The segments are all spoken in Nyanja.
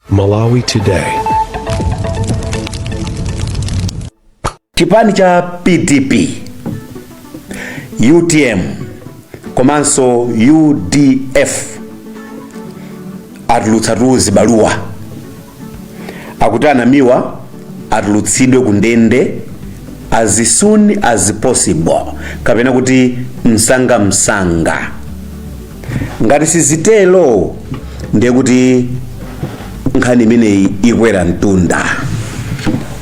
Malawi Today. chipani cha pdp utm komanso udf atulutsa tu zibaluwa akuti anamiwa atulutsidwe ku ndende as soon as possible kapena kuti msanga msanga ngati sizitero ndiye kuti nkhani imeneyi ikwera mtunda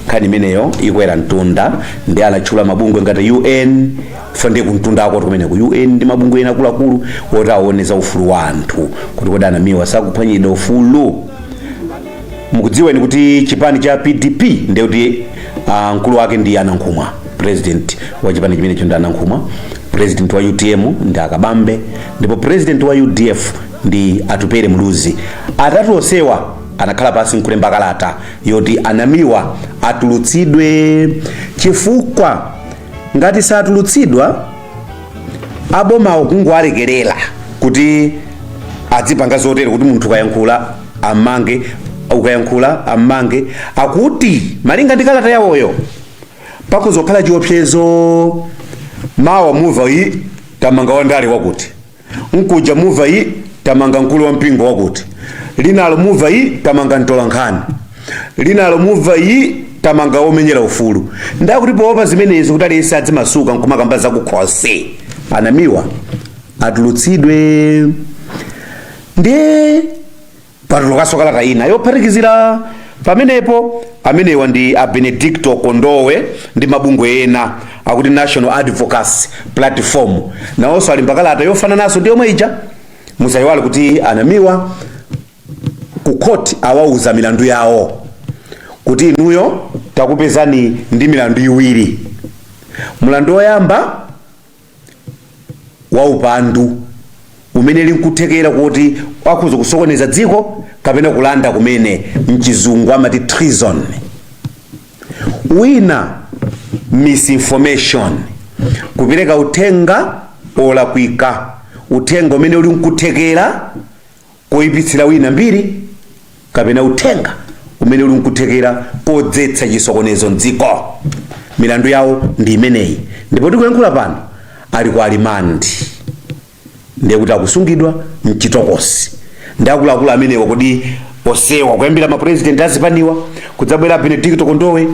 nkhani imeneyo ikwera mtunda ndiye anatchula mabungwe ngati un fa ndiye kumtunda akoko kumene ku un ndi mabungwe ena akuluakulu oti aona za ufulu wa anthu kuti kodi anamiwa sakuphwanyidwa ufulu mukudziwa eni kuti chipani cha pdp ndiye kuti ah, mkulu wake ndi anankhumwa president wa chipani chimenecho ndi anankhumwa president wa utm ndi akabambe ndipo president wa udf ndi atupere muluzi atatu onsewa anakhala pansi nkulemba kalata yoti anamiwa atulutsidwe chifukwa ngati satulutsidwa abomawo kungowalekerera kuti adzipanga zotere kuti munthu ukayankhula ammange ukayankhula ammange akuti malinga ndi kalata yawoyo pakuzokhala chiopsezo mawa muva yi tamanga wandale wakuti nkuja muva yi tamanga mkulu wa mpingo wakuti linalo muva yi tamanga mtolankhani linalo muva yi tamanga womenyera ufulu nda akuti poopa zimenezi kuti aliyense adzimasuka nkumakamba zakukhosi anamiwa atulutsidwe ndiye Patulukanso kalata ina yophatikizira pamenepo. Amenewa ndi a Benedicto Kondowe ndi mabungwe ena akuti National Advocacy Platform, nawonso alemba kalata yofanananso ndi yomwe ija. Musayiwale kuti a Namiwa ku court awauza milandu yawo kuti inuyo takupezani ndi milandu iwiri, mlandu woyamba waupandu umene uli nkuthekera kuti akhoza kusokoneza dziko kapena kulanda kumene mchizungu amati treason wina misinformation kupereka uthenga olakwika uthenga umene uli nkuthekera koipitsira wina mbiri kapena uthenga umene uli nkuthekera kodzetsa chisokonezo mdziko milandu yawo ndi imeneyi ndipo tikuyankhula pano ali ku rimandi ndiye kuti akusungidwa mchitokosi ndiye akuluakulu amenewa kodi osewa kuyambira mapurezidenti azipaniwa kudzabwera benedicto kondowe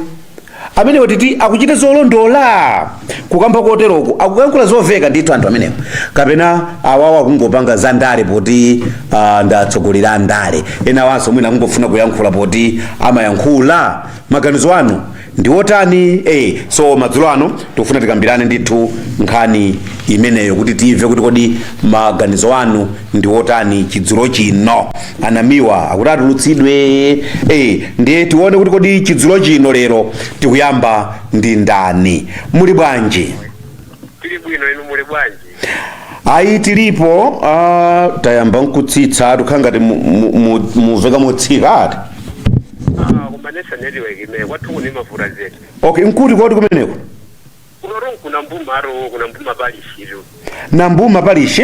amenewa titi akuchita zolondola kukamba koteroko akuyankhula zoveka ndithu anthu amenewa kapena awawo akungopanga za ndale poti uh, ndi atsogoleri andale enawanso mwina akungofuna kuyankhula poti amayankhula maganizo anu ndi otani eh, so madzulo ano tikufuna tikambirane ndithu nkhani imeneyo kuti timve kuti kodi maganizo anu ndi otani chidzulo chino anamiwa akuti atulutsidwe eh, ndiye tione kuti kodi chidzulo chino lero tikuyamba ndi ndani muli bwanji tili bwino inu muli bwanji ayi tilipo uh, tayamba nkutsitsa tikhala ngati mu- mu- mu- muveka motsika ati Ah, koma nesa network imene kwathu kuni mavuta zedi okay nkuti koti kumeneko kunotu ku Nambuma ku Nambuma palishi nambuma palishi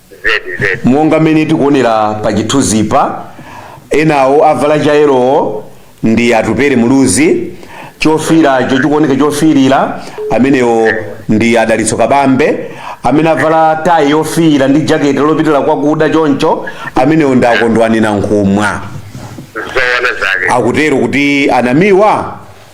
zedi zedi monga mmene tikuonera pa chithunzipa enawo avala choyerawo ndi atupere muluzi chofiiracho chikuoneka chofiirira amenewo ndi adalitso kabambe amene avala tayi yofiira ndi jaketi lopitira kwakuda choncho amenewo ndi akondwani nankhumwa zoona zake akutero kuti anamiwa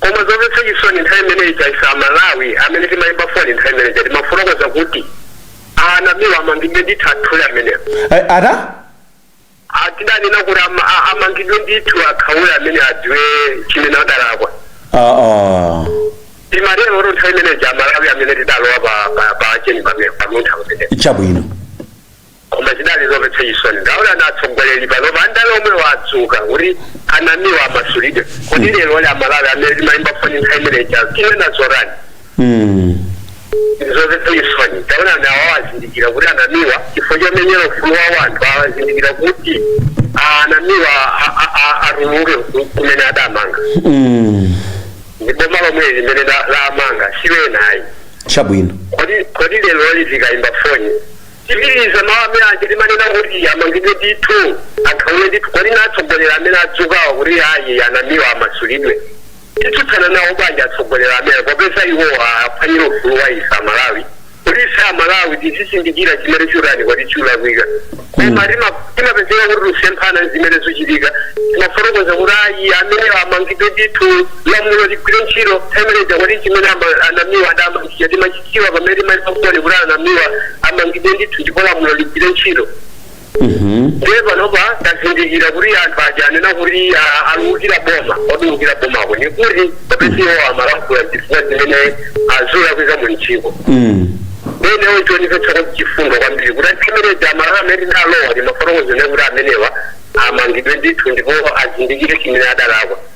Koma zovetsa chisoni nthawi imene ija ise a Malawi amene timayimba foni nthawi imene ija timafotokoza kuti a Namiwa amangidwe ndithu akhaule amenewo. Eh, ata? Ah, tidanena kuti ama- a- amangidwe ndithu akhaule amene adziwe chimene adalakwa. Ah, ah. Koma lero oro nthawi imene ija a Malawi amene tidalowa pa pa pa tcheni pamene pamuntha pamene. Chabwino. Koma chidali zovetsa chisoni taonani atsogoleri panopa a ndale omwewo adzuka kuti anamiwa amasulidwe kodi lero oro amalawi amene timayimba foni nthawi imene ija tinena zotani zovetsa chisoni taonani awa azindikira kuti anamiwa chifukwa chomenyera ufulu wa wanthu azindikira kuti ah, anamiwa a- a- a- atuluke ku- kumene adamanga ndi boma lomweli limene la- lamanga siwenayi chabwino kodi kodi lero oro tikayimba foni Tipitiliza mawu amene aja timanena kuti amangidwe ndithu akhawule ndithu kodi nanga atsogoleri amene adzukawa kuti ayi anamiwa amasulidwe titsutsana nawo bwanji atsogoleri amene popeza iwo akumenyera ufulu wa ife amalawi kuti ife amalawi tizizindikira chimene chutani kodi chulakwika koma tima- timapezeka kuti tusemphana zimene zuchitika timafotokoza kuti ayi amene amangidwe ndithu lamulo ligwire ntchito nthawi imene ija kodi chimene ama- anamiwa adamangidwa timachi dziwa pamene timafotokoza kuti anamiwa amangidwe ndithu ndipo lamulo ligwire ntchito ndiye panopa tazindikira kuti anthu aja anena kuti ah, akuukira boma koma kuukira bomako ni kuti popeza iwo amalankhula zinthu zimene zulakwika mu dziko ndiye chionetso kuti chifundo kwambiri kuti nthawi imene ija amalawi amene tidalowa timafotokoza kuti amenewa amangidwe ndithu ndipo azindikire chimene adalakwa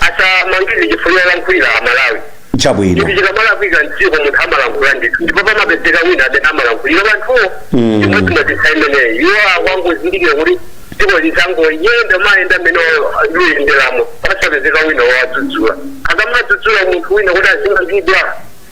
asamangidwe chifukwa cholankhulira amalawi chabwino chinthu chikamalakwika mdziko munthu amalankhula ndithu ndipo pamapezeka wina amene amalankhulira banthuwo Mm. chimodzimodzinso imeneyi iwo akungozindikira kuti dziko lizingoyenda mayenda mmene liyenderamo pasapezeka wina wowadzudzula akamadzudzula munthu wina kuti azimangidwa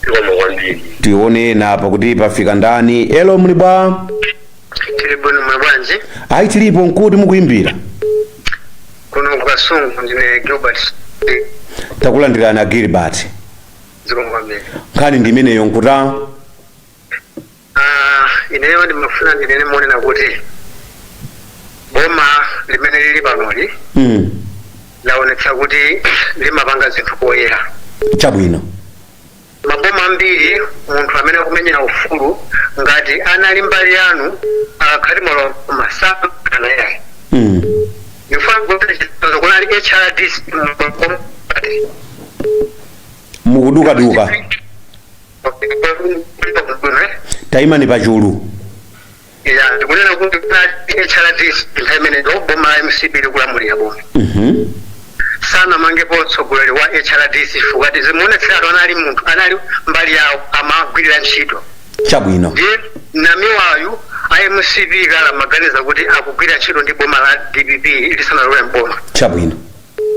zikomo kwambiri tione ena apa kuti pafika ndani helo muli bwa tili bwino muli bwanji ayi tilipo nkuti mukuyimbira kuno ku Kasungu ndine gilbert takulandirani a gilbert zikomo kwambiri nkhani ndi imeneyo nkuta Aaa ineyo ndimafuna ndinene monena kuti boma limene lili panoli mm. laonetsa kuti limapanga zinthu poyera chabwino maboma ambiri munthu amene akumenyera ufulu ngati anali mbali yanu akaphwanya malamulo samakamanga yayi mm. ndifuna kuti chitsanzo kunali hrdc mukudukaduka tayimani pachulu ya ndikunena kuti hrdc nthawi imeneyo boma la mcp likulamulira boma Mhm. sanamangepo mtsogoleri wa hrdc chifukwa tizimuonetseratu anali munthu anali mbali yawo amagwirira ntchito chabwino ndiye namiwayu a mcp kale amaganiza kuti akugwirira ntchito ndi boma la dpp lisanalowe mboma chabwino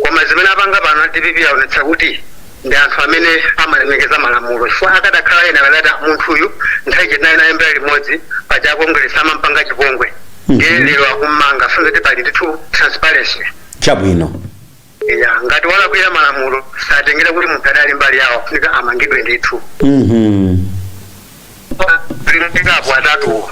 Koma zimene apanga pano a dpp aonetsa kuti ndi anthu amene amalemekeza malamulo chifukwa akadakhala ena akadati munthuyu nthawi ija tinali naye mbali limodzi paja a Kongeresi amampanga chipongwe ndiye lero akummanga kusonyeza kuti pali ndithu transparency chabwino ya ngati walakwira malamulo satengera kuti munthu adali mbali yawo afunika amangidwe ndithu Mhm. limikapo atatuwo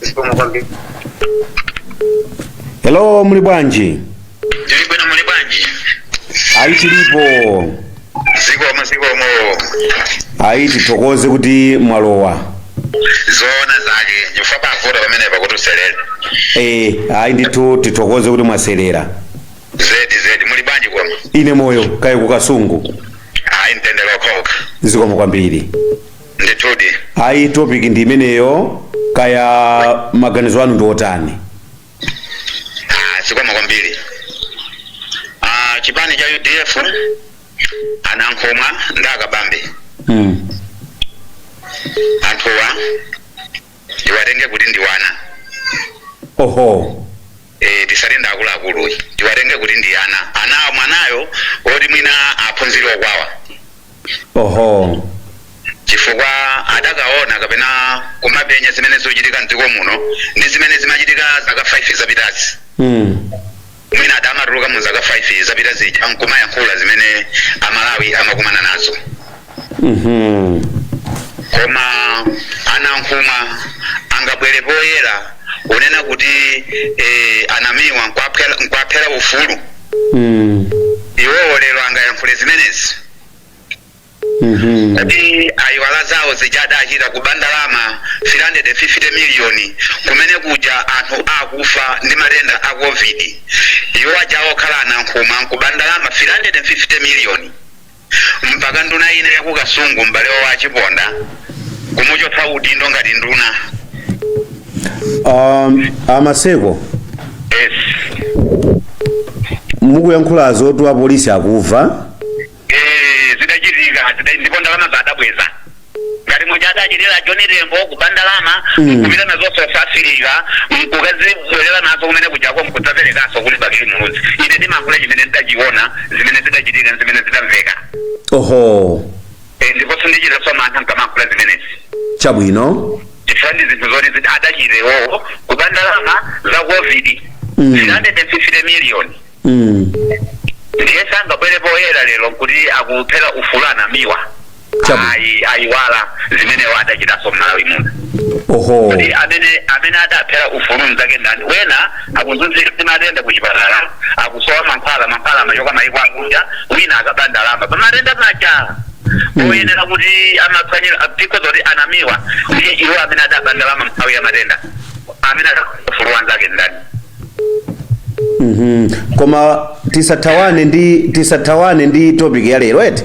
zikomo kwambiri hello muli bwanji ndili bwino muli bwanji ayi tilipo zikomo zikomo ayi tithokoze kuti mwalowa zoona zake chifukwa pavuta pamene pakuti uselele e, ayi ndithu tithokoze kuti mwaselera zedi zedi muli bwanji koma ine moyo kaya ku Kasungu ayi mtendere okhaokha zikomo kwambiri ndithudi ayi topic ndi imeneyo kaya maganizo anu ndi otani Ah, zikomo kwambiri Ah, chipani cha udf anankhumwa ndi a Kabambe mm. anthuwa ndiwatenge kuti ndiwana oho ee tisalenda akuluakulu tiwatenge kuti ndi ana anawo mwanayo oti mwina aphunzire okwawa oho chifukwa adakaona kapena kumapenya zimene zochitika mdziko muno ndi zimene zimachitika zaka 5 zapitazi mm. mwina adamatuluka mu zaka 5 zapita zija nkumayankhula zimene amalawi amakumana nazo Mhm. koma anankhumwa angabwere poyera kunena kuti eh, anamiwa nkwaphera nkwaphera ufulu Mm. iwowo lero angayankhule zimenezi Mhm. kuti ayiwala zawo zija adachita kuba ndalama 350 miliyoni kumene kuja anthu akufa ndi matenda a covid iwo aja okhala anankhumwa nkuba ndalama 350 miliyoni mpaka nduna ina ya ku kasungu m'bale wawo a Chiponda kumuchotsa udindo ngati nduna um, amaseko yes mukuyankhula zoti apolisi akuva eh zidachitika zida- ndipo ndalama zadabweza ngati muja adachitira John Tembo kuba ndalama Mm. nkupita nazo South Africa nkukazibwerera nazo kumene kujako nkudzaperekanso kuli Bakili Muluzi ine ndimayankhula chimene ndidachiona zimene zidachitika ndi zimene zidamveka oho Eh, ndipo sindichitaso mantha nkamayankhula zimenezi chabwino chifukwa ndi zinthu zoti adachita iwowo kuba ndalama za covid Mm. 350 million mm. ndiye sangabwere poyera lero nkuti akuphera ufulu anamiwa Chabwino. ayi ayiwala zimene iwo adachitaso mmalawi muno oho kuti amene amene adaphera ufulu mzake ndani wena akuzunzika matenda kuchipatala akusowa mankhwala mankhwala amachoka maiko akunja wina akaba ndalama pamatenda paja oyenera kuti amaphwanyira dziko zoti anamiwa ndi iwo amene adaba ndalama mnthawi ya matenda amene adaphera ufulu wanzake ndani Mhm. koma tisathawane ndi tisathawane ndi topic ya lero eti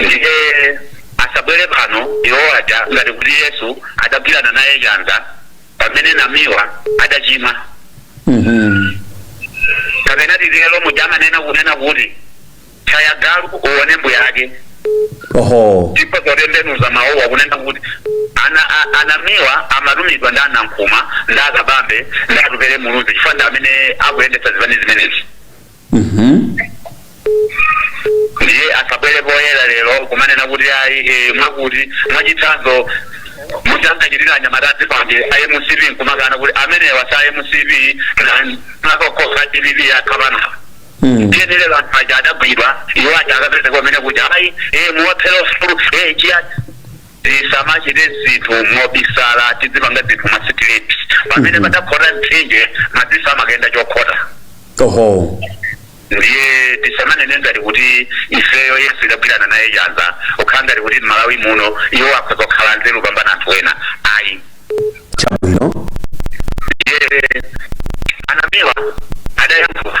Ndiye asabwere pano iwo aja ngati kuti Yesu adagwirana naye chanza pamene Namiwa adachimwa. Kapena titero muja amanena kunena kuti tchaya galu uone mbuyake. Oho. Ndipo osatembenuza mawuwa kunena kuti ana a- anamiwa amatumidwa ndi anankhuma ndi akabambe ndi atupere muluzi chifukwa ndi amene akuyendetsa zipani zimenezi. ndiye asabwere poyera lero kumanena kuti ayi eh, mwakuti mwachitsanzo muja ankachitira anyamata azikwanje a mcp nkumakana kuti amenewa sa mcp nakokoka dpp akhapanapa ndiye lero anthu aja adagwidwa iwo aja akapezeka pamene kuti ayi eh, muwaphera ufulu eh, chiyani Tisamachite zinthu mobisala, tidzipanga zinthu mwa straight. Pamene padakhota mtsinje, madziso amakayenda chokhota. oho ndiye tisamanene ngati kuti ifeyo yesu tidagwirana naye chanza kukhala ngati kuti mmalawi muno iwo akhoza kukhala nzeru kupambana anthu ena ayi chabwino ndiye anamiwa adayankhula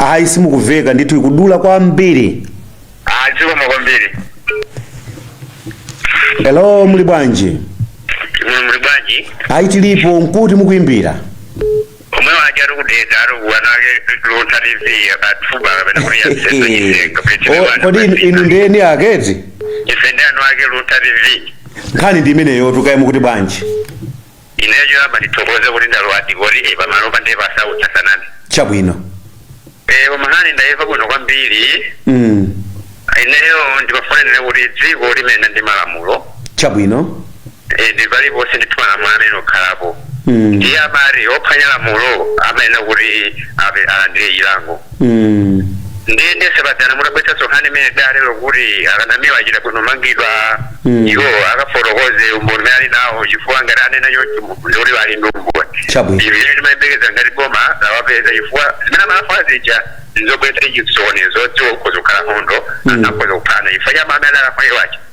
ayi simukuveka ndithu ikudula kwambiri zikomo kwambiri hello muli bwanji Mwe muli bwanji ayi tilipo nkuti mukuimbira omwe waja ali ku Dedza ari kuwana ake Luntha tv akatfuba kapena kuti yasenga O, kodi inu- inu ndi eni ake ti ife ndi eni ake Luntha tv nkhani ndi imeneyo tukaye mukuti bwanji Ineyo choyamba ndithokoze kuti ndalowa dzikoli ee pamalopa ndiye pasautsa saname. Chabwino. Ee koma nkhani ndaimva bwino kwambiri. mm. Ineyo ndimafuna ndinene kuti dziko limayenda ndi malamulo. Chabwino. Ee ndi paliponse ndithu malamulo amayenera kukhalapo. mm. Ndiye amati ophwanya lamulo amayenera kuti ape alandire chilango. Mm. ndiye ndiye sebatana mutabwetsanso nkhani imene dale lokuti akanamiwa achita bwino kumangidwa Mm. iwo akafotokoze umboni umene ali nawo chifukwa ngati anena choncho munthu ndikuti ali ndi umboni Chabwino. ndi chimene timayembekeza ngati boma lawapeza chifukwa zimene amafuna zija ndizobwetsa chisokonezo mdziko mukhoza kukhala nkhondo Mm. akhoza kuphana chifukwa cha mmene alafuna iwacho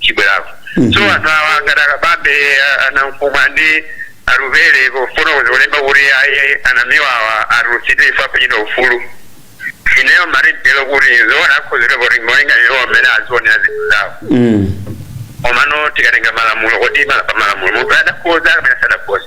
chibwerako so anthu awa ngati akabambe a- a Nankhumwa ndi Atupele kufotokoza kulemba kuti ayi anamiwawa atulutsidwe ife apatsidwe ufulu ineyo marindelo kuti zoona akhuzire kuti molinga iwo mmene azionera zinthu zawo Mm. omano tikatenga malamulo kodi ma- pa malamulo munthu adakhoza kapena sadakhoza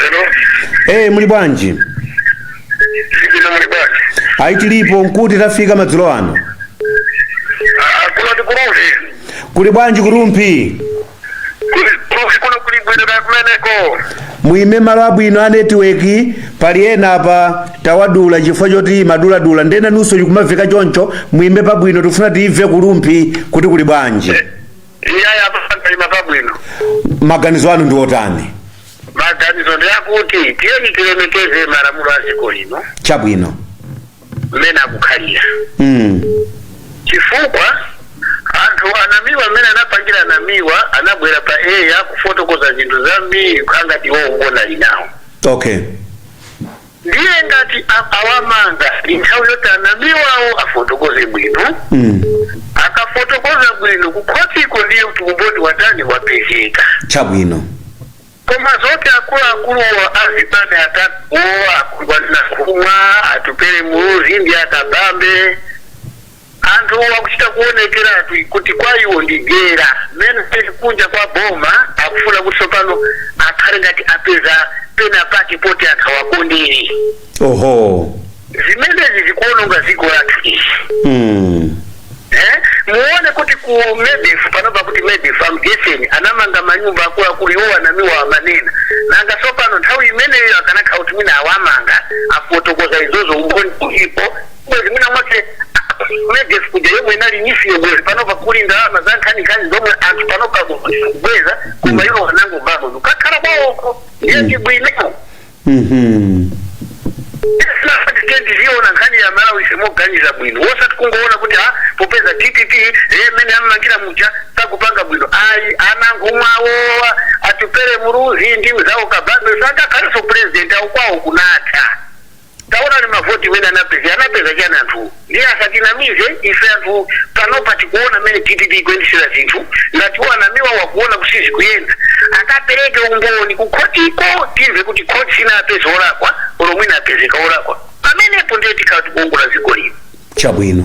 Hello. Eh, muli bwanji? Ndikuti muli bwanji? Ayi tilipo nkuti tafika madzulo ano. Ah, kuno ndi ku Rumphi. Kuli bwanji ku Rumphi? Kuli ku Rumphi kuno kuli bwino kaya kumeneko. Muime malo abwino a netiweki pali ena apa tawadula chifukwa choti imaduladula ndiye nanunso chikumaveka choncho muime pabwino tifuna timve ku Rumphi kuti kuli bwanji. iyayi apa ndaima pabwino maganizo anu ndi otani maganizo ndi akuti tiyeni tilemekeze malamulo a dziko lino chabwino mmene akukhalira mm. chifukwa anthu anamiwa mmene anapangira anamiwa anabwera pa air kufotokoza zinthu zambiri ngati iwo umboni ali nawo okay Ndiye ngati a- awamanga ndi nthawi yoti anamiwawo afotokoze bwino Mm. akafotokoza bwino kukhotiko ndiye kuti umboni watani wapezeka Chabwino. koma zoti akuluakuluwo azipani atatuwo akulu a Nankhumwa Atupele Muluzi ndi akabambe Anthu akuchita kuonekeratu kuti kwa iwo ndi dyera mmene alili kunja kwa boma akufuna kuti tsopano akhale ngati apeza pena pake poti anthu awakondere. Oho. Zimenezi zikuononga dziko lathu izi. Mm. Eh? Muone kuti ku Medef panopa kuti Medef a Mdyetseni anamanga manyumba akuluakulu iwo a Namiwa amanena nanga tsopano nthawi imeneyo akanakhala kuti mwina awamanga afotokoza izozo umboni ulipo bwezi mwina mwake Medef kuja yomwe inali NEEF yo bwezi panopa kuli ndalama za nkhaninkhani zomwe anthu panopa akubweza koma iwo anangobapo nkukakhala kwawoko ndiye ndi bwino Mhm. tiziona nkhani ya Malawi moganiza bwino wosati kungoona kuti ha popeza dpp mmene ammangira muja sakupanga bwino ayi a Nankhumwa awa Atupele Muluzi ndi mzawo Kabambe sangakhalenso purezidenti awo kwawo kunatha Taonani mavoti mmene anapezera. Anapeza chani anthuwo? Ndiye asatinamize ife anthu panopa tikuona mmene dpp ikuyendetsera zinthu ngati iwo a Namiwa akuona kuti sizikuyenda akapereke umboni ku khotiko timve kuti khoti sinapeze olakwa olo mwina apezeka olakwa pamenepo ndiye tikhala tikuongola dziko lino. Chabwino.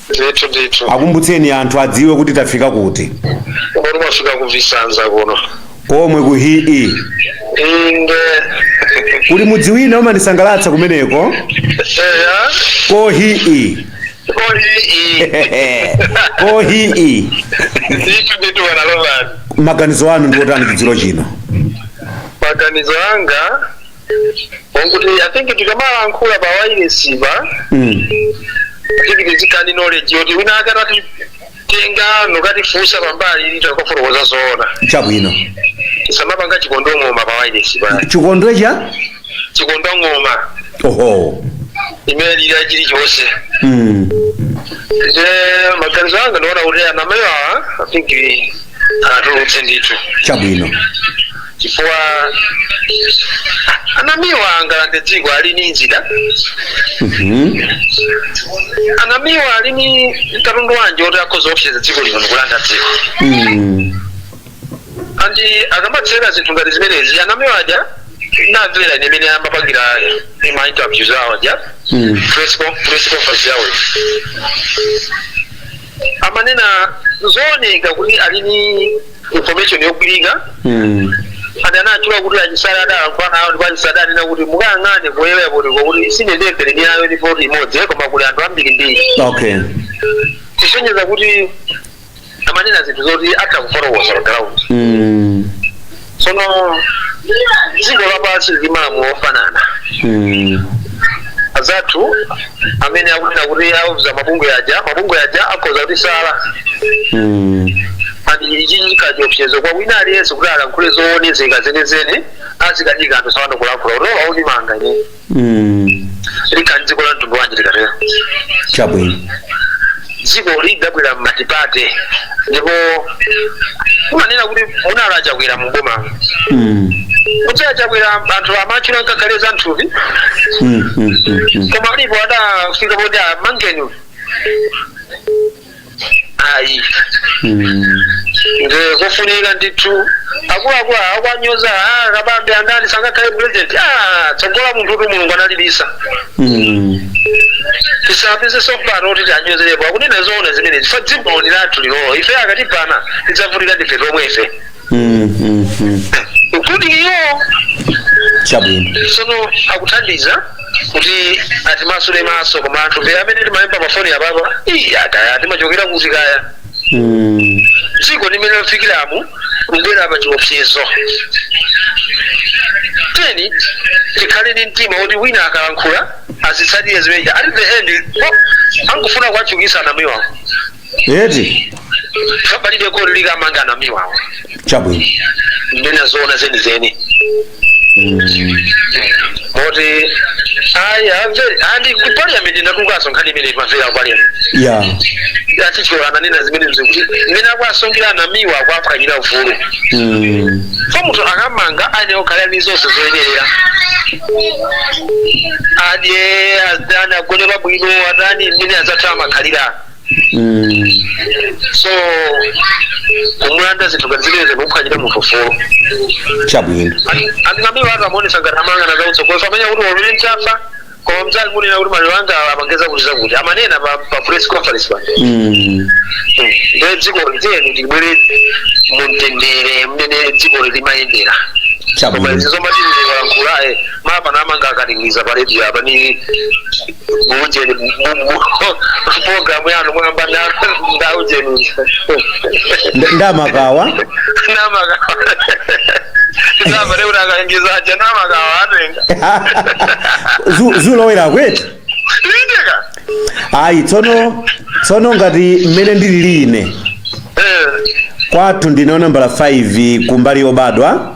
ndithu ndithu akumbutseni anthu adziwe kuti tafika kuti kumene mwafika ku Visanza kuno komwe Khuwi inde kuli mudzi wina umandisangalatsa kumeneko eya ko hii koyi ko hii ndithu ndithu bwana Roland maganizo anu ndi otani chidziro chino maganizo anga okuti i think tikamalankhula pa wailesipa Mm. I think tizikhala ni knowledge yoti wina wake akatitenga nokatifunsa pambali titha kufotokoza zoona chabwino tisamapanga chikondo ng'oma pa wailesipa chikondo cha chikondo ng'oma oho imene ilira chilichonse mm. nde maganizo anga ndiona kuti a Namiwa awa i think awatulutse ndithu chabwino chifukwa a Namiwa angalande dziko ali ni zida Mhm. a Namiwa ali ni katundu wanji oti akhoza kuopseza dziko lino ndikulanda dziko Mm. and akamatsera zinthu ngati zimenezi a Namiwa aja ndamvera ine mmene amapangira ma interviews awo aja Mm. press con- press conference yawo amanena zooneka kuti ali ni information yogwirika Mm. ati anatchula kuti a Chisale adalankhula nawo ndipo a Chisale adanena kuti mukayang'ane ku eyapotiko kuti sine ndembere ni ayo ni poti imodzi eh, koma kuli anthu ambirimbiri Okay. kusonyeza kuti amanena zinthu zoti atha kufotokoza pa ground Mm. tsono dziko lapansi lili ndi malamulo ofanana Mm. anzathu amene akunena kuti auza mabungwe aja mabungwe aja akhoza kuti sala Mm. and ichi chikukhala chiopsezo kwa wina aliyense kuti alankhule zoonezeka zenizeni azikakanika anthu sawano kulankhula kuopa andimanga ine likhala dziko la mtundu wanji likatero chabwino dziko lidabwera m'matipate ndipo kumanena kuti munali a Chakwera mu boma kuti a Chakwera anthu amatchula ngakhale za nthupi koma alipo adafika poti amangeni ayi Mm. nde kofunika ndithu akuluakulu akuwanyoza ah, Kabambe andani sangakhale president ah, tsogola la munthu kuti Mulungu analibisa Mm. tisapeze tsopano kuti tiwanyozerepo akunena zoona zimenezi chifukwa dziko ndi lathu lilolo ife tikatibana tidzavutika ndife tomwefe Mm, mm, mm. mukuti iwo chabwino sono akuthandiza kuti atimasule maso koma anthufe amene timayimba mafoni apapa ii kaya timachokera kuti kaya Mm, dziko mmene lafikiramu kubwera pa chiopsezo tiyeni tikhale ndi mtima woti wina akalankhula tizitsatire zimeneja at the end oh, angofuna kuwachuukitsa a Namiwawo eti palibe koti likamanga a Namiwawo chabwino nde nde zoona zenizeni moti ayi amve andi ku parliament ndatengaso nkhani imene imamveka ku parliament ya a Chihana ananena zimene zakuti mmene akuwasungira a Namiwa akuwaphwanyira ufulu Mm. chifukwa munthu akamangidwa ayenera kukhala ndi zonse zoyenerera adye atani agone pabwino atani mmene anzake amakhalira Mm. so kumulanda zinthu ngati zimenezo ndi kuphwanyira munthu ufulu chabwino and a Namiwa akamuonesa ngati amanga wazautsogozo amenya kuti oluli mchafa koma mzali munena kuti maliro anga amangeza kuti zakuti amanena pa pa press conference pa Mm. nde dziko li tiyeni tibwere mumtendere mmene dziko limayendera koma chabwino izi zomatililankhulaye mapano amanga akatingiza pa redio apa ni muujeni programu yanu mwamba ndi aujeni Nd- ndamakawa namakawa ndava neurakaingizaje namakawa atenga Zu- zulowera kuti indeka ayi tsono tsono ngati mmene ndilili ine kwathu ndine nambala 5 kumbali yobadwa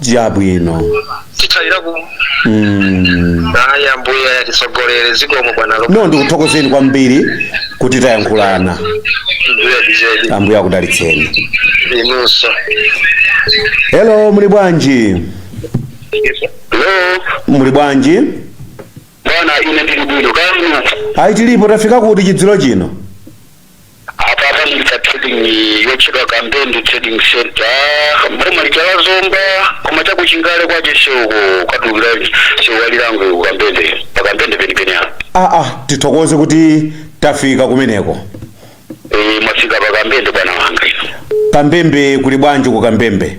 chabwino titsalira ku mm. ayi ambuye atitsogolere zikomo bwana no ndikuthokozeni kwambiri kuti tayankhulana mbuye bijedi ambuye akudalitseni inunso hello muli bwanji muli bwanji bwana ine ndili bwino kaya inu ayi tilipo tafika kuti chidziro chino apa ndi pa trading yotchedwa kambende trading center mboma lija la zomba koma chakuchingale kwache seuko ukatulukira seuwalilango ku kambende pa kambende penipeni apa aa tithokoze kuti tafika kumeneko Eh, mwafika pa kambende bwana wanga ino kambembe kuli bwanji ku kambembe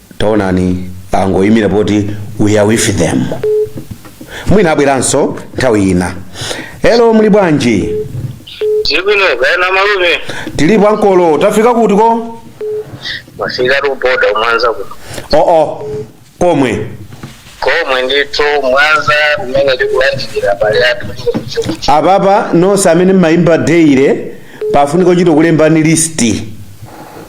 taonani angoyimira pati we are with them mwina abweranso nthawi ina elo muli bwanji Ndili bwino kaya amalume tilipo ankolo tafika kuti ko mwafika ku boda mwanza kuno oo komwe komwe ndithu mwanza umene tikulandikira abale athu apapa nonse amene mmayimba daily pafunika kuchita kulemba list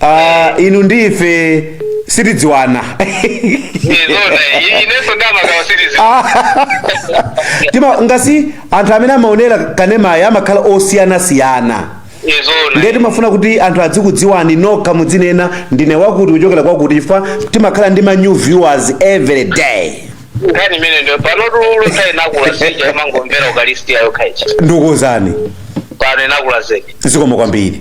Ah, inu ndi ife sitidziwana izona inenso ndamagawa silizi tima ngati anthu amene amaonera kanemayi amakhala osiyanasiyana izona ndiye timafuna kuti anthu adzikudziwani nokha mudzinena ndine wakuti kuchokera kwakuti chifukwa timakhala ndi ma new viewers every day nkhani imene ndiyo panotu nkhani inakula sija imangomvera ukalisti yayo khaicha ndikuwuzani pano inakula zedi zikomo kwambiri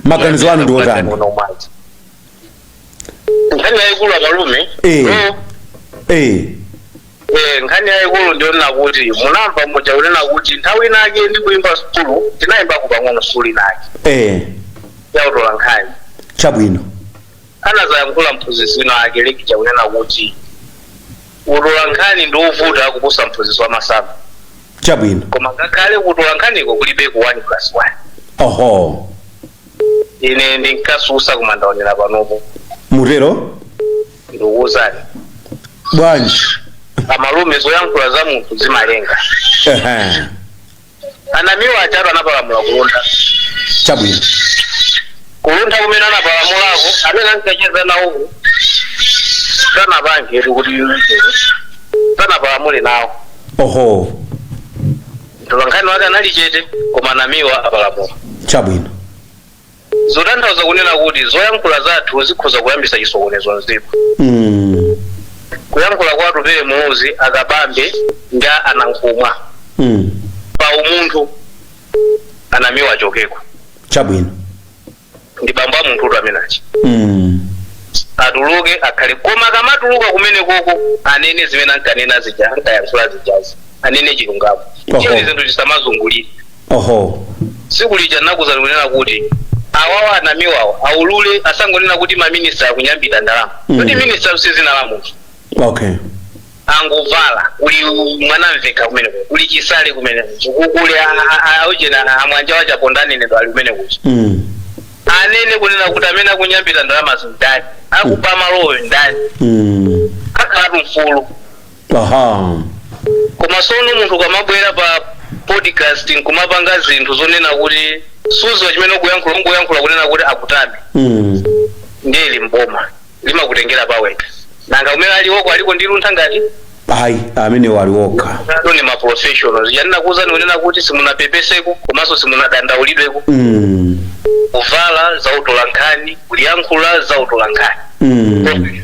maganizo anu ndi otani nkhani yayikulu amalume Eh. no, Eh, eh, nkhani yayikulu ndiyonena kuti munamva muja kunena kuti nthawi inake ndikuyimba sukulu tinayimbako pang'ono sukulu inake eh, yautola nkhani chabwino anazayankhula mphunzitsi wina ake uja kunena kuti Utolankhani ndi ovuta kuposa mphunzitsi wa masamu. chabwino Koma ngakhale kutolankhaniku kulibeko 1 plus 1. oho Ine ndinkasusa koma ndaonera panopa. mutero Ndikuwuzani. bwanji Amalume zoyankhula za munthu zimalenga. Ehe. a Namiwa ajatu anapalamula ku Luntha chabwino ku Luntha kumene anapalamulako amene ankacheza nawo sanapange kuti sanapalamule nawo oho mtolankhani wake anali chete koma a Namiwa apalamula chabwino Zotanthauza kunena kuti zoyankhula zathu zikhoza kuyambisa chisokonezo mziko. Kuyankhula kwa Atupele Muluzi, a Kabambe ndi a Nankhumwa pa umunthu a Namiwa achokeko. Chabwino. Ndi bambo a munthutu amene aja. Atuluke akhale koma akamatuluka kumene koko anene zimene ankanena zija ankayankhula zijazi anene chilungamo. Oho. Chiyani zinthu zisamazungulire. Oho. Tsiku lija ndinakuuzani kunena kuti awawa a Namiwawa aulule asangonena kuti maminista akunyambita ndalama Mm. kuti minista si zina la munthu Okay. angovala kuli Mwanamveka kumene kuja, kuli Chisale kumene kuja, ku- kuli a- a- a- aujena amwanja wa Chaponda nenedwa ali kumene kuja Mm. anene kunena kuti amene akunyambita ndalama ndi ndani akuba malowo ndani Mm. akhalatu mfulu aha koma sono munthu ukamabwera pa podcast nkumapanga zinthu zonena kuti suziwa chimene ukuyankhula ungoyankhula kunena kuti akutame mm. ndiye limboma limakutengera pa weak nanga kumene aliwoko aliko ndi luntha ngati ayi amenewa ali wokha anu ni maprofessionals ya ndinakuwuzani kunena kuti simunapepeseko komanso simunadandaulidweko mm. kuvala za utolankhani kuliyankhula za utolankhani mm.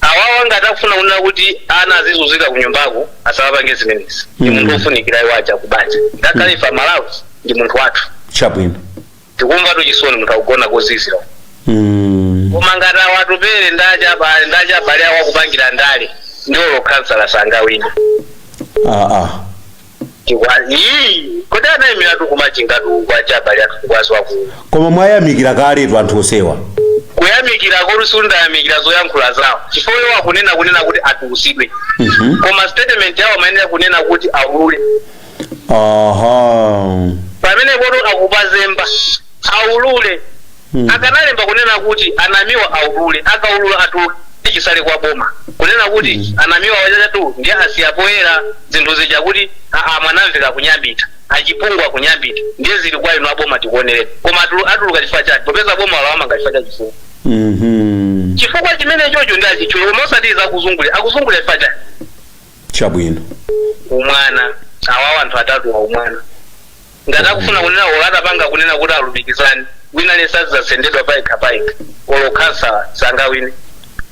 awawa ngati akufuna kunena kuti ana azizunzika kunyumbako asawapange zimenezi ndi Mm. munthu ofunikira iwo aja kubanja ngakhale ife a Malawi ndi munthu wathu chabwino tikumvatu chisoni munthu akugona kozizira Mm. koma ngati awa Atupele ndi aja abale awo akupangira ndale ndi olo khansala sangawina Ah, ah. Chikwa ii kodi anaimiratu ku Machingatu uku aja abale athu kukwazi waku koma mwayamikira kaletu anthu onsewa kuyamikira kodi sindinayamikire zoyankhula zawo chifukwa iwo akunena kunena kuti atulusidwe Mhm. koma statement yawo amayenera kunena kuti aulule aha pamenepotu akupazemba aulule Akanalemba kunena kuti a Namiwa aulule, akaulula atuluke chisale kwa boma kunena kuti a Namiwa ajatu ndiye asiya poyera zinthu zija kuti a Mwanamveka akunyambita, a Chipungu akunyambita ndiye zili kwa inu a boma tikuonereni. Koma atuluka chifukwa chani popeza boma lawamanga chifukwa cha chifukwa? Chifukwa chimenechocho ndiye achitchule koma osati za kuzungulira. Akuzungulira chifukwa chani? Chabwino. Umwana, awawa anthu atatuwa umwana. ngati akufuna kunena olo atapanga kunena kuti alumikizane wina aliyense azizatsendedwa payekha payekha olo khansala sangawine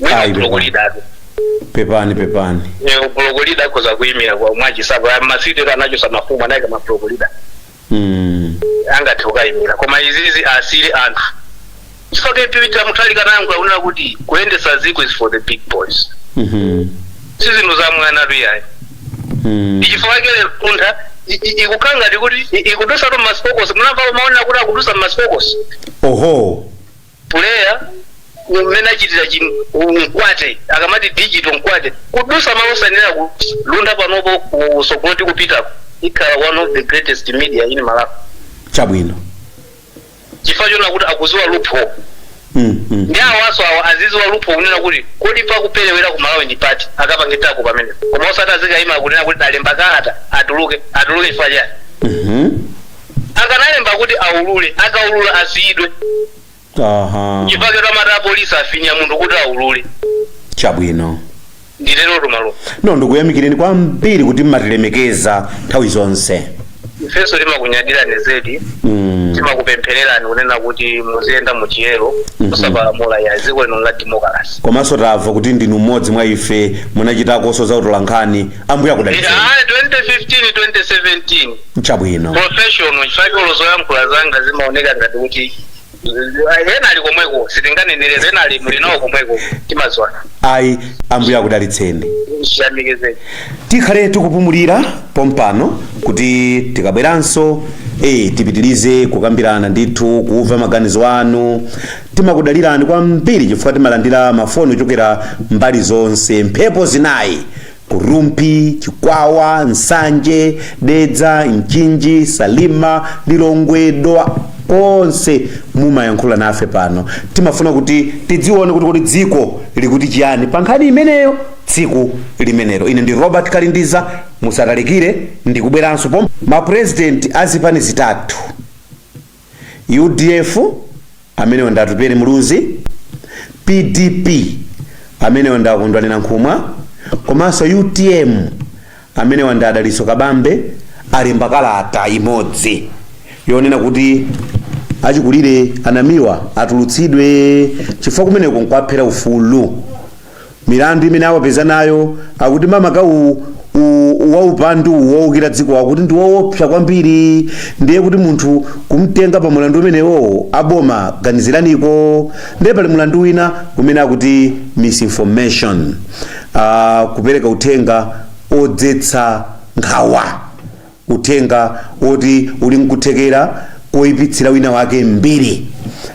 wina Ayi, ublock leadertu pepani pepani ublock leader akhoza kuyimira kwa mwachisapo masitero anachosa mafumu anayika mablock leader mm. angathe kukayimira koma izizi asiyire anthu chifukwa chake Peter Mutharika naye ankanena kuti kuyendesa ziko is for the big boys Mhm. si zinthu za mwanatu ayi Mm. nchifukwa chake lero kuntha i- i- ikukhala ngati kuti i- ikudusa tumasipokosi munamva umaonera kuti akudusa masipokosi oho puleya mmene achitira chi mkwate akamati digital mkwate kudusa malo osayenera kulunda panopo kusogoloti kupitako ikhala one of the greatest media in malawi chabwino chifukwa chonena kuti akuziwa loophole mm, mm. ndi awaso awa aziziwa loophole kunena kuti kodi pakuperewera ku malawi ndi pati akapangeteko pamene koma osati azikayima kunena kuti alemba kalata atuluke atuluke chifukwa chani Mhm. akanalemba kuti aulule akaulula asiyidwe aha chifukwa chotamata apolisi afinya munthu kuti aulule chabwino nditerotu malume no ndikuyamikireni kwambiri kuti mmatilemekeza nthawi zonse ifenso timakunyadirani zedi Mm. timakupemphererani kunena kuti muziyenda mu chiyero musapalamule a dziko lino la demokarasi komanso tamva kuti ndinu mmodzi mwa ife munachitakonso za utolankhani ambuye akudalitseni ayi 2015 2017 chabwino professional chifukwa zoyankhula zanga zimaoneka ngati kuti ena ali komweko sitinganenere ena ali muli nawo komweko timadziwana ayi ambuye akudalitseni chiyamikizeni tikhale tikupumulira pompano kuti tikabweranso e, tipitirize kukambirana ndithu kumva maganizo anu timakudalirani kwambiri chifukwa timalandira mafoni ochokera mbali zonse mphepo zinayi Ku Rumphi, Chikwawa, Nsanje, Dedza, Mchinji, Salima, Lilongwe, Dowa onse mumayankhula nafe pano timafuna kuti tidzione kuti kodi dziko likuti chiyani pa nkhani imeneyo tsiku limenelo ine ndi robert kalindiza musatalikire ndikubweranso pomwe mapurezidenti a zipani zitatu udf amenewa ndi Atupele Muluzi, pdp amenewa ndi a Kondwani Nankhumwa komanso utm amenewa ndi a Dalitso Kabambe alemba kalata imodzi yonena kuti achikulire a Namiwa atulutsidwe chifukwa kumeneko nkwaphera ufulu Milandu imene awapeza nayo akuti makamaka u, u, waupandu uwu woukira dziko akuti ndi woopsa kwambiri ndiye kuti munthu kumtenga pa mulandu umenewowo a boma ganiziraniko ndiye pali mulandu wina kumene akuti misinformation uh, kupereka uthenga odzetsa nkhawa uthenga woti uli nkuthekera koipitsira wina wake mbiri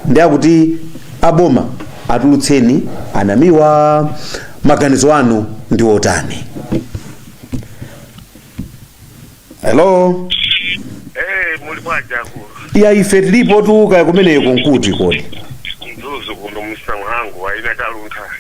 ndiye akuti aboma atulutseni a Namiwa maganizo anu ndi otani hello Eh, muli bwaja akulu. ya ife tilipotu kaya kumeneko nkuti kodi Mzuzu kuno msa mhangu a Inna Taluntha.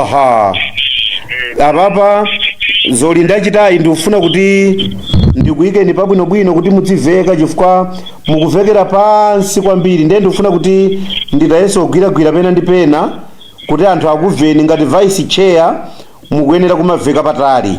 aha apapa zomwe ndachitayi ndikufuna kuti ndikuyikeni pabwinobwino kuti mudziveka chifukwa mukuvekera pansi kwambiri ndiye ndikufuna kuti ndithayenso kugwiragwira pena ndi pena kuti anthu akumveni ngati vice chair mukuyenera kumaveka patali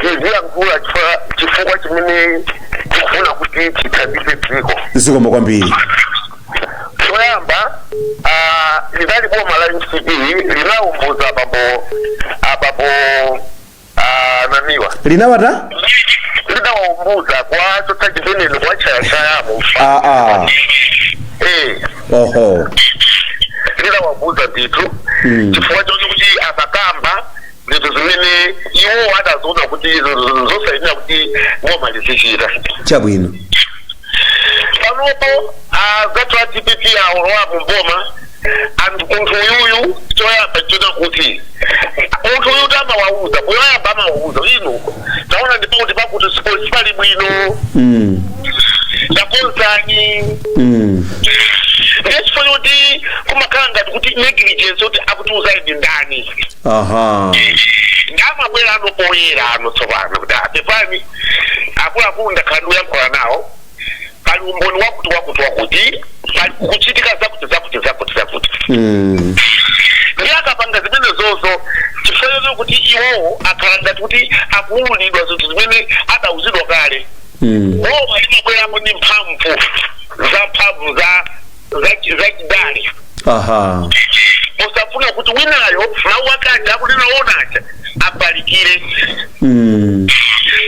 tiziyankhula chifukwa- chifukwa chimene tikufuna kuti tithandize dziko zikomo kwambiri choyamba ah, linali boma la mcp linawawumbuza abambo abambo ah, Namiwa linawata linawawumbuza kochotsa chimene kwa chayachayamo ah, ah. eh oho linawawumbuza ndithu chifukwa chokuti amakamba zinthu zimene iwo adaziona kuti zosayenera kuti boma lizizichita chabwino panopo azathu a dpp awolowa mu boma anthu munthu uyuyu choyamba chona kuti munthu uyu tamawauza poyamba amawauza inu taona ndipo kuti pakuti siposi pali bwino mm. takonzani mm. nde chifukwa choti kumakhala ngati kuti negligence kuti akutiuzayi ndi ndani aha ndiye amabwerano poyerano tsopano kuti apepani akuluakulu ndakhala ndikuyankhula nawo pali umboni wakuti wakuti wakuti pali kuchitika zakuti zakuti zakuti zakuti Mm. ndiye akapanga zimene zozo chifukwa choti iwowo akhala ngati kuti akuwululidwa zinthu zimene adawuzidwa kale Mm. boma limabweramo ndi mphamvu za mphamvu za zachi- zachidale aha kusafuna kuti winayo mawu ake aja akunena ona aja afalikire mm.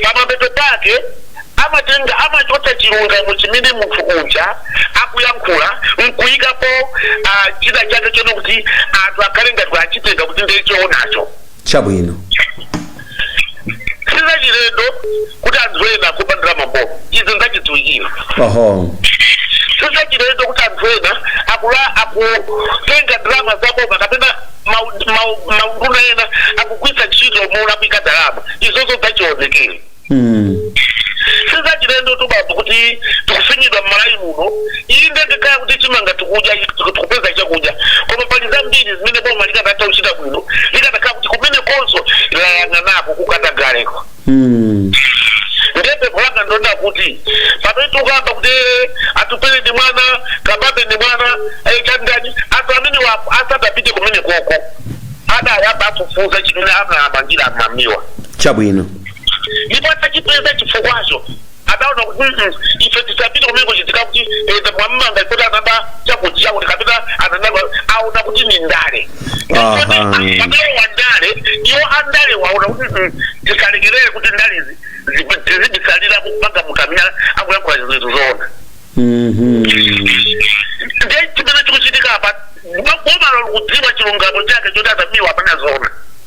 pamapeto pake amatenga amachotsa chilungamo chimene munthu uja akuyankhula nkuyikapo ah, chida chake chona kuti anthu akhale ngati achitenga kuti ndiye chowonacho chabwino sizachilendo kuti anthu ena akuba ndalama mboma izi nzachidziwikira oho sizachilendo kuti anthu ena akula akutenga ndalama za boma kapena mau- mau- maunduna ena akugwiritsa ntchito molakwika ndalama izozo nzachionekere sizachilendo tu bambo kuti tikufinyidwa mmalawi muno inde tikunena kuti chimanga tikudya tikupeza chakudya koma pali zambiri zimene boma likadatha kuchita bwino likatakhala kuti kumenekonso layang'anako kukatagaleko nde pempho langa ndonena kuti pamene tikukamba kuti eh, atupele ndi mwana kabambe ndi mwana eh, chandani anthu amene wa- asadapite kumene koko adayamba afufuza chimene amamangira anamiwa chabwino ndipo atachipeza chifukwacho adaona kuti "Mm, ife tisapite kumene kuchitika kuti eza mwamanga kuti anaba chakudya kuti kapena ananaba aona kuti ni ndale Aha. pamene wa ndale iwo andale aona kuti "Mm, tisalekerere kuti ndalezi tizibisalira kumanga namiwa akuyankhula zinthu zoona Mhm. ndiye chimene chikuchitika apa boma lo likudziwa chilungamo chake choti anamiwa apanga zoona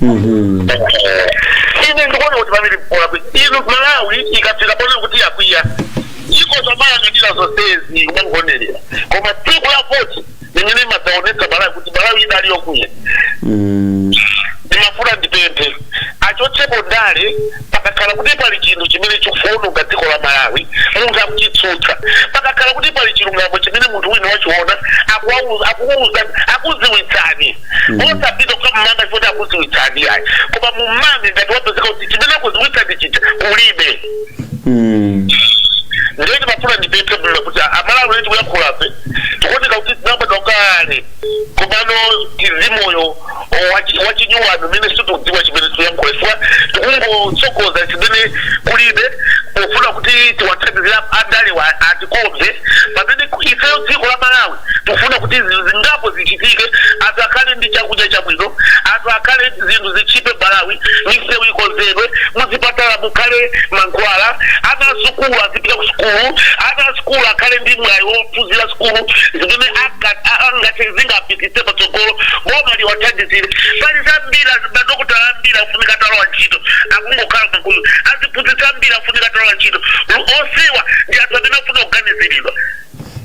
Mhm. ine ndikuona kuti pamene mpoona kuti inu malawi ikafika ponena kuti yakwiya izo zomayang'anira zonsezi umangonerera koma tsiku la voti limene imadzaonetsa malawi kuti malawi idali yokwiya Mm. ndimafuna ndipemphe achotsepo ndale pakakhala kuti pali chinthu chimene chikuononga dziko la malawi munthu akuchitsutsa pakakhala kuti pali chilungamo chimene munthu wina wachiona akuwauza- akukuuza- akuziwitsani osapita kukamumanga chifukwa akuziwitsani ayi koma mumange ngati wapezeka kuti chimene akuziwitsani chija kulibe Mm. ndiye ndimafuna ndipemphe bwino kuti amalawi eti kuyankhulafe tikuoneka kuti tinabwera kale komano tili ndi moyo wachinyowani umene situkudziwa chimene tuyankhula chifukwa tikungotsogoza chimene kulibe pofuna kuti tiwathandizira andalewa atikonde pamene ifeyo dziko la malawi Tikufuna kuti zinthu zingapo zichitike, anthu akhale ndi chakudya chabwino, anthu akhale, zinthu zitchipe Mmalawi, misewu ikonzedwe, muzipatala mukhale mankhwala, ana a sukulu azipita ku sukulu, ana a sukulu akhale ndi mwayi wophunzira sukulu zimene angathe, zingapititse patsogolo, boma liwathandizire. Pali zambiri, madokotala ambiri akufunika atalowa ntchito, akungokhala m'makomo. Aziphunzitsi ambiri akufunika atalowa ntchito. Onsewa ndi anthu amene akufunika kuganiziridwa.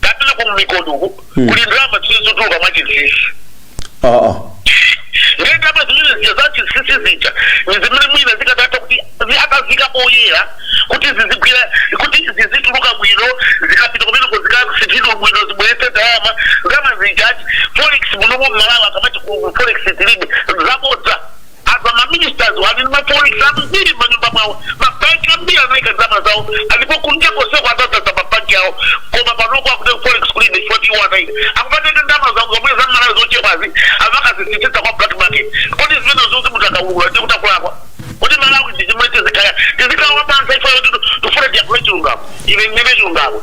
kapena ku mikondo uku kuli ndalama zimene zikutuluka mwachinsinsi aa ndiye ndalama zimene zija za chinsinsi zija ni zimene mwina zikadatha kuti zi- akaziika poyera kuti zizigwira kuti zizituluka bwino zikapita kumeneko zikasinthidwa bwino zibweretse ndalama ndalama zija ati forex munomo mmalawi akamati ku forex tilibe zabodza Apa ma ministerswa ali ndi ma forex ambiri m'manyumba mwawo. Ma bank ambiri anaika ndalama zawo alipo kunja konseko adzazaza ma bank awo. Koma panopo akuti forex kulibe chifukwa ndi iwo anaika. Akumatenga ndalama zawo zomwe za Malawi zochepazi akumakazisinthitsa kwa black market. Kodi zimenezozi munthu akaulula ndi kuti akulakwa? Kodi Malawi ndi chomwe tizikhala tizikhala wamantha ife poti tifuna tiyankhule chilungamo. Ine ndine chilungamo.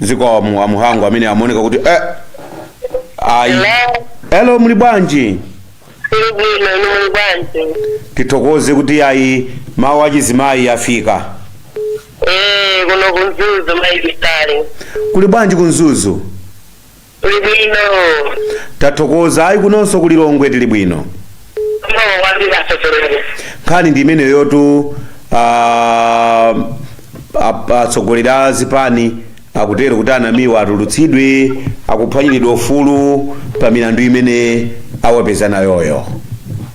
zikomo a Muhango amene amaoneka kuti eh, ayi Hello. elo muli bwanji Tiri bwino inu muli bwanji? tithokoze kuti ayi mawu achizimayi afika Eh, kuno ku Mzuzu maibisari. kuli bwanji ku Mzuzu Kuli bwino. Tathokoza. Ayi kunonso ku Lilongwe tili bwino. Zikomo kwambiri atsogoleri. Nkhani ndi imeneyotu ah, ap- atsogoleri a zipani akutero kuti a Namiwa atulutsidwe akuphwanyiridwa ufulu pa milandu imene awapeza nayoyo.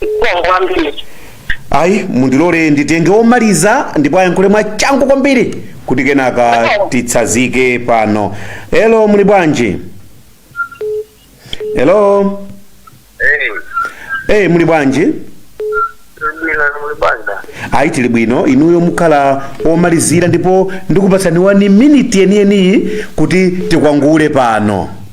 Zikomo kwambiri. ayi mundilole nditenge omaliza ndipo ayankhule mwa changu kwambiri kuti kenaka titsazike pano elo muli bwanji elo eyi muli bwanji Ndibwino muli bwanji. ayi tili bwino inuyo mukhala omalizira ndipo ndikupatsani wani miniti yeniyeni kuti tikwangule pano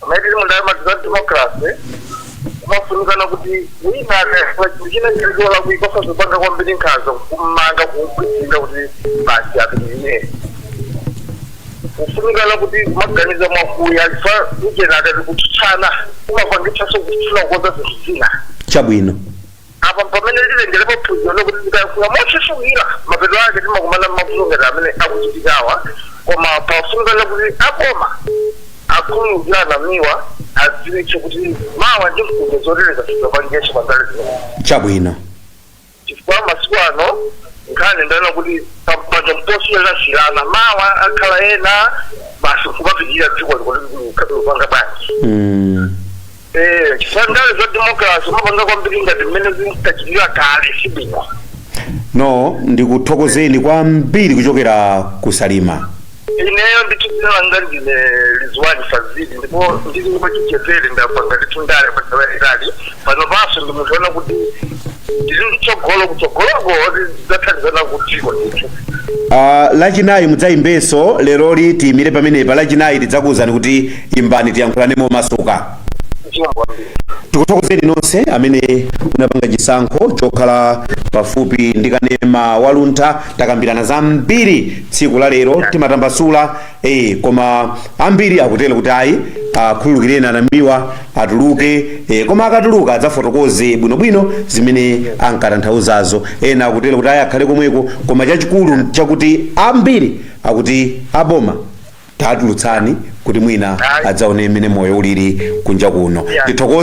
pamene tili mu ndale za democracy kumafunikana kuti wina akafa chinthu china chilicho lakuika osazipanga kwambiri nkhanza kummanga kumkwinda kuti basi apitirire kufunikana kuti maganizo mwakuya fa ujeni adati kutsutsana kumapangitsanso kufuna kukonza zina chabwino Apa mpamene titengerepo phunziro lokuti tikayankhula motchesukira, mapeto ake timakumana nmavuto ngati amene akuchitikawa koma pafunikana kuti aboma akhululukire a Namiwa adziwitse kuti mawa ndi mfundo zotereza asadzapangenso pa ndale zimenezi chabwino chifukwa masiku ano nkhani ndale nakuti pampando mposiyiranasiyirana mawa akhala ena basi kumapitirira dziko likupanga bwanji mm. Eh, chifukwa ndale za democracy umapanga kwambiri ngati mmene zinkachitika kale sibwino no ndikuthokozeni kwambiri kuchokera ku Salima ineyo ndithu dzina langa ndine Rizwani Fazili ndipo ndili wachichepere ndapanga ndithu ndale padalaitali pano panso ndimaona kuti ndili ndi tsogolo kutsogoloko tidzathandizana kudziko ndithu Uh, lachinayi mudzayimbenso leroli tiyimire pamenepa lachinayi tidzakuwuzani kuti imbani tiyankhulane momasuka zikomo kwambiri tikuthokozeni nonse amene munapanga chisankho chokhala pafupi ndi kanema wa Luntha takambirana zambiri tsiku la lero timatambasula ee koma ambiri akutero kuti ayi akhululukireni anamiwa atuluke ee, koma akatuluka adzafotokoze bwinobwino zimene ankatanthauzazo ena akutero kuti ayi akhale komweko koma chachikulu chakuti ambiri akuti aboma tatulutsani kuti mwina adzaone mmene moyo ulili kunja kuno tithokoze